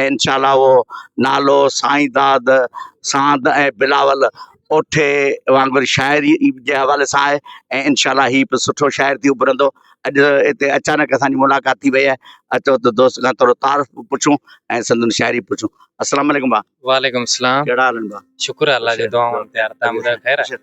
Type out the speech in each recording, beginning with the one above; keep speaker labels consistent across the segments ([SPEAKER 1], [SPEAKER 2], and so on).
[SPEAKER 1] ۽ انشاء الله اهو نالو سائين داد ساند ۽ بلاول اوٺي وانگر شاعري جي حوالي سان آهي ۽ انشاء الله هي به سٺو شاعر ٿي اڀرندو اڄ هتي اچانڪ اسان جي ملاقات ٿي وئي آهي اچو ته دوست کان ٿورو تعارف به پڇون ۽ سندن شاعري به پڇون السلام عليڪم ڀاء وعليڪم السلام ڪهڙا حال آهن ڀاء شڪر آهه الله جي دعائن تيار تان ٻڌايو خير
[SPEAKER 2] آهي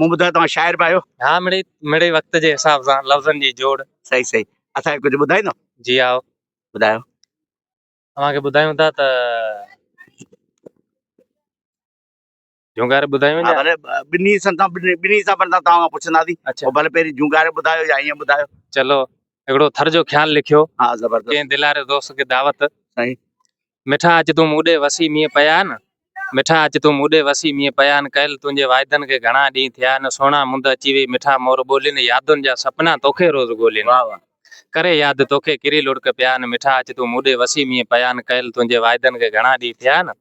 [SPEAKER 1] مون ٻڌو توهان شاعر به آهيو. ها مڙئي مڙئي
[SPEAKER 2] وقت جي حساب سان لفظن جي جوڙ. صحيح صحيح اسان
[SPEAKER 1] کي ڪجهه ٻڌائيندو. جي آء
[SPEAKER 2] ٻڌايو.
[SPEAKER 1] اوهان
[SPEAKER 2] کي ٻڌايون ٿا ته جونگاري ٻڌايون ها يا ڀلي ٻنهي
[SPEAKER 1] سان تان ٻنهي ٻنهي حسابن سان توهان کان پڇنداسين اڇا او ڀلي پهرين جونگاري
[SPEAKER 2] ٻڌايو
[SPEAKER 1] يا ائين ٻڌايو. چلو
[SPEAKER 2] هڪڙو ٿر جو خيال لکيو. ها زبردست. ڪنهن دلاري
[SPEAKER 1] دوست کي
[SPEAKER 2] دعوت. صحيح.
[SPEAKER 1] مٺا اچ
[SPEAKER 2] تون مون ڏي وسي مينهن پيا نه مٺا اچ تون مون ڏي وسي مينهن پيا نه ڪيل تنهنجي واعدن کي گهڻا ڏينهن ٿيا نه سهڻا مند اچي وئي مٺا مور ٻولي نه يادن جا سپنا توکي روز ڳولي نه ڪري
[SPEAKER 1] ياد توکي
[SPEAKER 2] ڪري لڙڪ پيا نه مٺا اچ تون مون ڏي وسي مينهن پيا نه ڪيل تنهنجي واعدن کي گهڻا ڏينهن ٿيا نه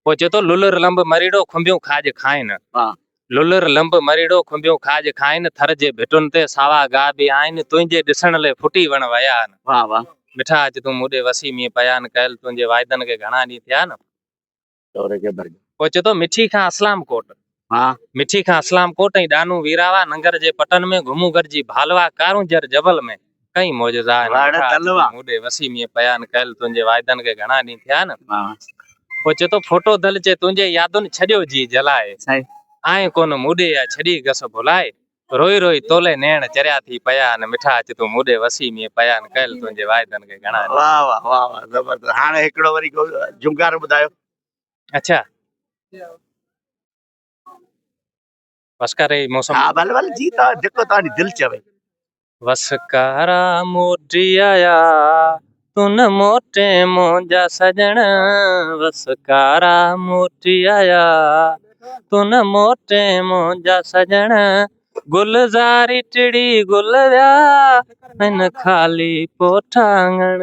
[SPEAKER 2] پوء چئي ٿو للر لنب مريڙو کنڀيون کاڄ کائين. واه. للر لنب مريڙو کنڀيون کاڄ کائين، ٿر جي ڀٽن تي ساوا گاهه به آهن، تنهنجي ڏسڻ لئه ڦٽي وڻ ويا آهن. واه واه. مٺا
[SPEAKER 1] اچ تون مون ڏي
[SPEAKER 2] وسي، مينهن پيا آهن ڪيل، تنهنجي وعدن کي گهڻا ڏينهن ٿيا آهن. چوري کي ڀرجي. پوء چئي ٿو مٺي کان اسلام ڪوٽ. ها مٺي کان اسلام ڪوٽ ۽ ڏانو ويراوا ننگر جي پٽن ۾ گهمون گهر جي ڀالوا ڪارونجهر جبل ۾ ڪئين معجزا آهن مٺا اڄ تون مون ڏي وسي مينهن پيا آهن ڪيل تنهنجي وعدن کي گهڻا ڏينهن ٿيا آهن پوء چي ٿو ڦوٽو دل چي تنهنجي يادن ڇڏيو جي جلائي آئين ڪونه مون ڏي يا ڇڏي گس ڀلائي روئي روئي تولي نيڻ چريا ٿي پيا آهن مٺا اچ تون مون ڏي وسي مينهن پيا آهن ڪيل تنهنجي وعدن کي گهڻا ڏينهن. واھ واھ واھ واھ
[SPEAKER 1] زبردست هاڻي هڪڙو وري جهونگار ٻڌايو. اچا
[SPEAKER 2] وسڪاري موسم ها بل بل جي تا
[SPEAKER 1] جيڪو تا جي دل چوي وسڪارا
[SPEAKER 2] موٽي آيا تون موٽي مونجا سجن وسڪارا موٽي آيا تون موٽي مونجا سجن گلزاري ٽڙي گل ويا ان خالي پوٺا آنگن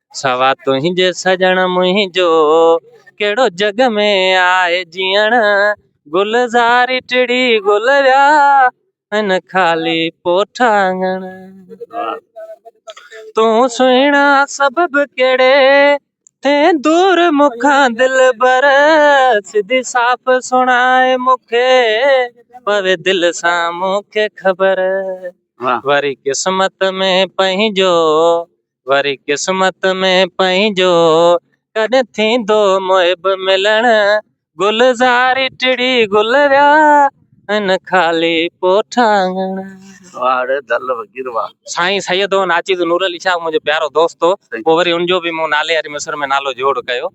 [SPEAKER 2] سوا تنهنجي سڄڻ منهنجو ڪهڙو جڳ ۾ آهي جيئڻ گلزاري ٽڙي گل ويا هن خالي پوٺا آڱڻ تون سهڻا سبب ڪهڙي ٿي دور مکان دل بر سڌي صاف سڻائي مونکي پوي دل سان مونکي خبر وري قسمت ۾ پنهنجو وري قسمت ۾ پنهنجو ڪڏهن ٿيندو محب ملڻ گلزاري ٽڙي گل ويا ان خالي پوٺاڱڻ. واڙ دل وگير وا. سائين سيد هو ناچيز نور علي شاهه منهنجو پيارو دوست هو پوء وري ان جو به مون نالياري مصر ۾ نالو جوڙ ڪيو.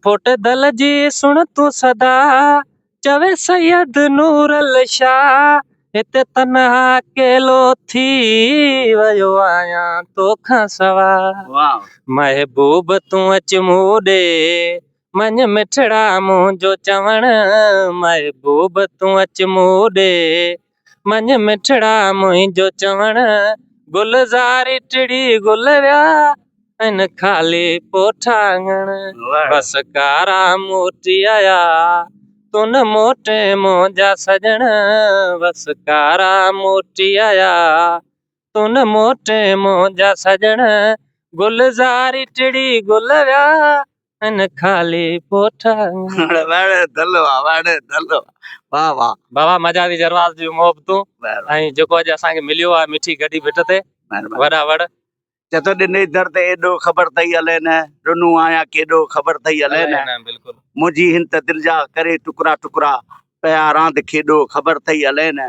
[SPEAKER 2] پوٽ دل جي سڻ تون صدا، چوي سيد نورالشاه هتي تنها اڪيلو ٿي، ويو آهيان توکان سوا. محبوب تون اچ مون ڏي، مڃ مٺڙا منهنجو چوڻ، محبوب تون اچ مون ڏي. مڃ مٺڙا منهنجو چوڻ، گلزاري ٽڙي گل ويا ۽ خالي پوٺا اڱڻ. بس ڪارا موٽي آيا، تون نه موٽين منهنجا سڄڻ. بس ڪارا موٽي آيا، تون موٽ منهنجا سڄڻ، گلزاري ٽڙي گل ويا ان خالي پوٺا. وڙ وڙ دلوا وڙ
[SPEAKER 1] دلوا واه واه. بابا مزا ٿي جرواز
[SPEAKER 2] جون محبتون ۽ جيڪو اڄ
[SPEAKER 1] اسان کي مليو
[SPEAKER 2] آ مٺي گڏي ڀٽ تي وڏا وڙ. چتو ڏني
[SPEAKER 1] در تي ايڏو خبر تئي الين ڏنو آهيان ڪيڏو خبر تئي الين منهنجي هن
[SPEAKER 2] ته دل
[SPEAKER 1] جا ڪري ٽڪرا ٽڪرا پيا راند کيڏو خبر تئي الين.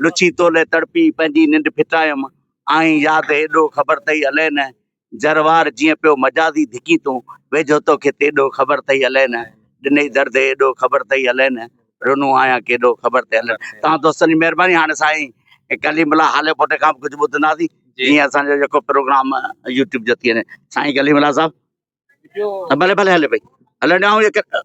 [SPEAKER 1] لڇي تو لئه تڙپي پنهنجي ننڊ ڦٽايم آهين ياد هيڏو خبر ٿئي الئه نه جروار جيئن پيو مجازي ڌڪين تون ويجهو توکي تيڏو خبر ٿئي الئه نه ڏنئي درد هيڏو خبر ٿئي الئه نه رنو آهيان ڪيڏو خبر ٿئي الئه نه توهان دوستن جي مهرباني هاڻي سائين ڪليم الله هاليپوٽي کان به ڪجهه ٻڌنداسين جيئن اسان جو جيڪو پروگرام يوٽيوب جو ٿي وڃي سائين ڪليم الله صاحب ڀلي ڀلي هلي پئي هلڻ ڏيانو